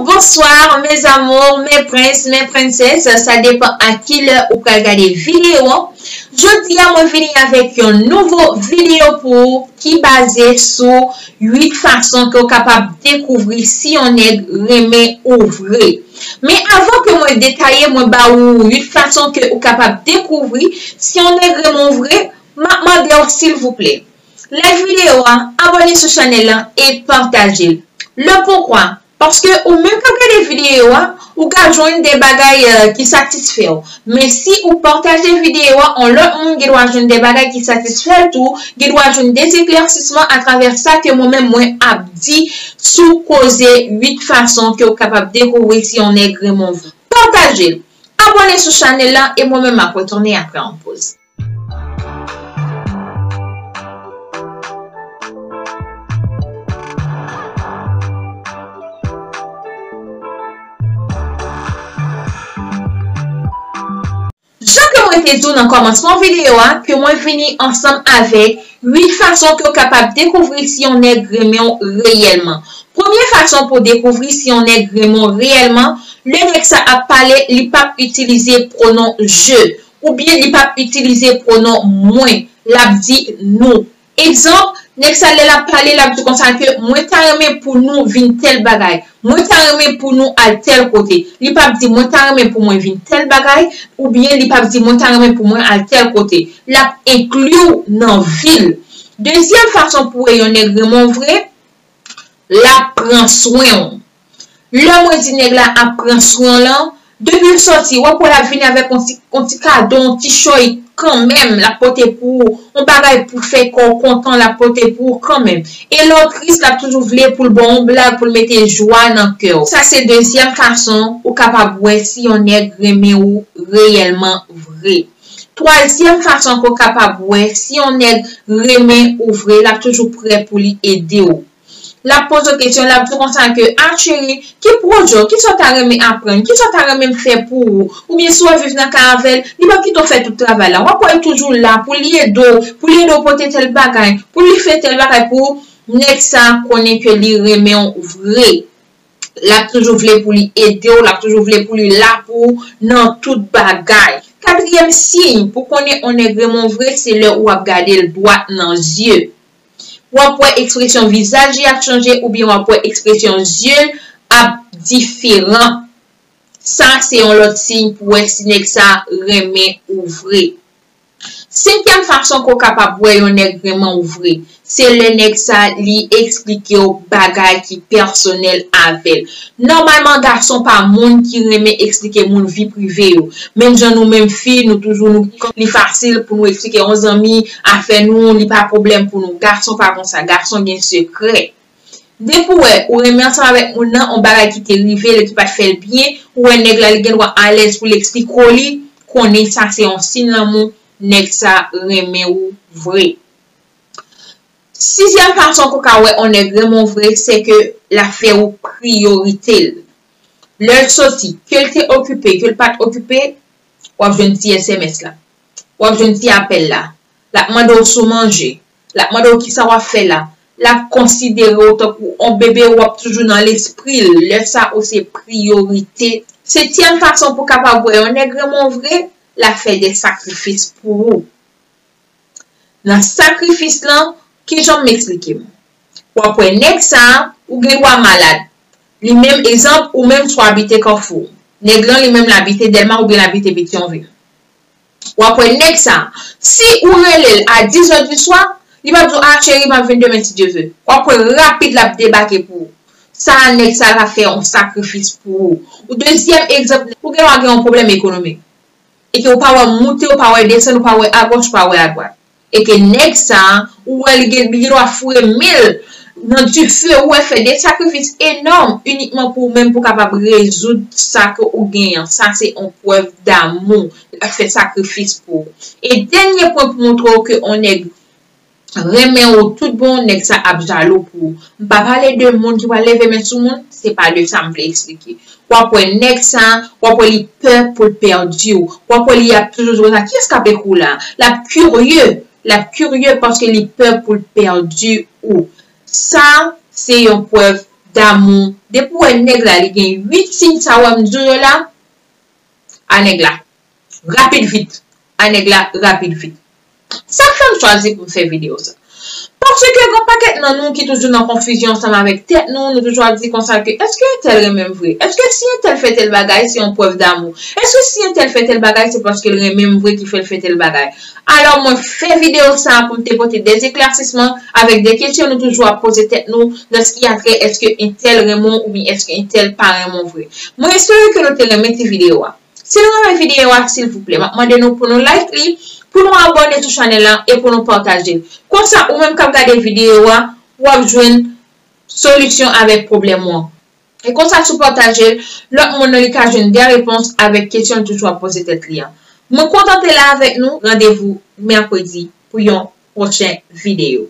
Bonsoir mes amours mes princes mes princesses sa depan a ki lè ou pral gade video an jodi a mwen vini avèk yon nouvo video pou ou ki baze sou 8 fason ke ou kapab dekouvri si yon nèg renmen ou vre men avan ke mwen detaye mwen ba ou 8 fason ke ou kapab dekouvri si yon nèg renmen ou vre map mandew silvouplè Like video a, abone sou chanel lan e pataje l. Le poukwa? Paske ou menm kap gade video a, ou ka jwenn de bagay ki satisfè w. Men si ou pataje video a, on lòt moun gen dwa jwenn de bagay ki satisfè l tou, gen dwa jwenn de eklèsisman atravè sa ke mwen menm mwen ap di sou koze 8 fason ke ou kapab dekouvri si on nèg renmen w vre. Pataje l! Abone sou chanel lan e mwen menm map retounen apre on poz. Jan ke mwen te di w nan kòmansman videyo a ke mwen vini ansanm avèk 8 fason ke w kapab dekouvri si yon nèg renmen w reyèlman. Premye fason pou w dekouvri si yon nèg renmen w reyèlman, lè nèg sa ap pale li pap itilize pwonon je. Oubyen li pap itilize pwonon mwen, l ap di nou. Egzanp, nèg sa lè l ap pale, l ap di konsa ke mwen ta renmen pou nou vin tèl bagay, mwen ta renmen pou nou al tèl kote. Li pap di mwen ta renmen pou mwen vin tèl bagay, oubyen li pap di mwen ta renmen pou mwen al tèl kote. L ap enkli w nan vi l. Dezyèm fason pou w wè yon nèg renmen w vre, l ap pran swen w. Lè mwen di nèg la ap pran swen w lan, depi l sòti, w ap wè l ap vini avèk on ti on ti kado, on ti chòy kanmenm l ap pote pou ou, on bagay pou fè kò w kontan l ap pote pou ou kanmenm. E lè w tris l ap toujou vle pou l ba w on blag pou l mete jwa nan kè w. Sa se dezyèm fason ou kapab wè si yon nèg renmen ou reyèlman vre. Twazyèm fason ke w kapab wè si yon nèg renmen ou vre l ap toujou prè pou li ede w. Lap poze w kesyon, lap di w konsa ke, ah cheri, ki pwojè w, kisa w ta renmen aprann, kisa w ta renmen m fè pou ou, oubyen si w ap viv nan kay avè l, li pap kite w fè tout travay la, wap wè l toujou la pou li ede w, pou li ede w pote tèl bagay, pou li fè tèl bagay pou ou, nèg sa konnen ke li renmen w vre, lap toujou vle pou li ede w, lap toujou vle pou li la pou ou nan tout bagay. Katriyèm siy pou konnen on nèg renmen w vre se lè ou ap gade l dwat nan zye. w ap wè ekspresyon vizaj li ap chanje oubyen w ap wè ekspresyon zye l ap diferan. Sa se yon lòt siy pou wè si nèg sa renmen ou vre. Senkyèm fason ke w kapab wè yon nèg renmen w vre, se lè nèg sa li eksplike w bagay ki pèsonèl avè l. Nòmalman gason pa moun ki renmen eksplike moun vi prive yo. Menm jan nou menm fi nou toujou li fasil pou nou eksplike yon zanmi, Afè nou li pa pwoblèm pou nou gason pa konsa gason gen sekrè depi ou wè ou renmen ansanm avèk moun nan on bagay ki te rivel e ki pat fèl byen ou wè nèg la li gendwa alèz poul eksplike w li konnen sa se on siy lanmou nèg sa renmen ou vre sizyèm fason pou ka wè on nèg renmen w vre se ke lap fè ou priyorite l lèl t soti kel te okipe kel pat okipe wap jwenn ti sms la. w ap jwenn ti apèl la. L ap mande w si w manje. L ap mande w kisa w ap fè la. L ap konsidere w tankou on bebe w ap toujou nan lespri l. Lè sa ou se priyorite. Setyèm fason pou w kapab wè yon nèg renmen w vre, l ap fè de sakrifis pou ou. Nan sakrifis lan, kijan m esplike m? W ap wè nèg sa, ou gen dwa malad. Li menm, egzanp, ou menm si w abite Kafou. Nèg lan li menm l abite Dèlma oubyen l abite Petyonvil. Wap wè nèg sa, si ou rele l a 10 heures du soir, li pap di w ah chérie map vin demen si Dieu veut. Wap wè rapid lap debake pou ou. Sa a nèg sa ta fè yon sakrifis pou ou. Ou dezyèm egzanp, ou gen dwa gen yon pwoblèm ekonomik. E ke ou pa wè moute, ou pa wè desann, ou pa wè agòch, ou pa wè adwat. E ke nèg sa a, ou wè li gen li gen dwa foure men l nan dife ou wè fè de sakrifis enòm inikman pou ou menm pou kapab rezoud sa ke ou gen an. Sa se on prèv damou. Li pa t fè sakrifis pou ou. E dènye pwen pou montre w ke on nèg renmen ou tout bon, nèg sa ap jalou pou ou. M pa pale de moun ki pral leve men sou moun, se pa de sa m vle eksplike. Wap wè nèg sa, wap wè li pè pou l pèdi w, wap wè li ap toujou di konsa kiyès kap ekri w la, lap kirye, lap kirye paske li pè pou l pèdi ou. Sa se yon prèv damou, depi w wè nèg la li gen 8 siy sa wè m di w yo la, a nèg la Rapid vit Ay nèg la rapid vit Sak fèm chwazi poum fè video sa Paske gon pakèt nan nou ki toujou nan konfizyon ansanm avèk tèt nou Nou toujou ap di konsa ke Eske entèl renmenm vre Eske si entèl fè tèl bagay se yon prèv damou Eske si entèl fè tèl bagay se paskel renmenm vre ki fèl fè tèl bagay Alò mwen fè video sa poum te pote de eklasisman avèk de kesyon nou toujou ap poze tèt nou nan ski atrè eske entèl renmenw oubyen eske entèl pa renmenw vre Mwen espere ke nou te renmen ti video a. Si nou renmen videyo a silvouplè map mande nou pou nou like li, pou nou abòne sou chanèl la e pou nou patajel. Konsa ou menm kap gade videyo a wap jwenn solisyon avèk pwoblèm ou an. E konsa si w patajel, lòt moun nan li ka jwenn dè repons avèk kesyon l toujou ap poze tèt li an. Mwen kontan te la avèk nou, randevou mèkredi pou yon pwochen videyo.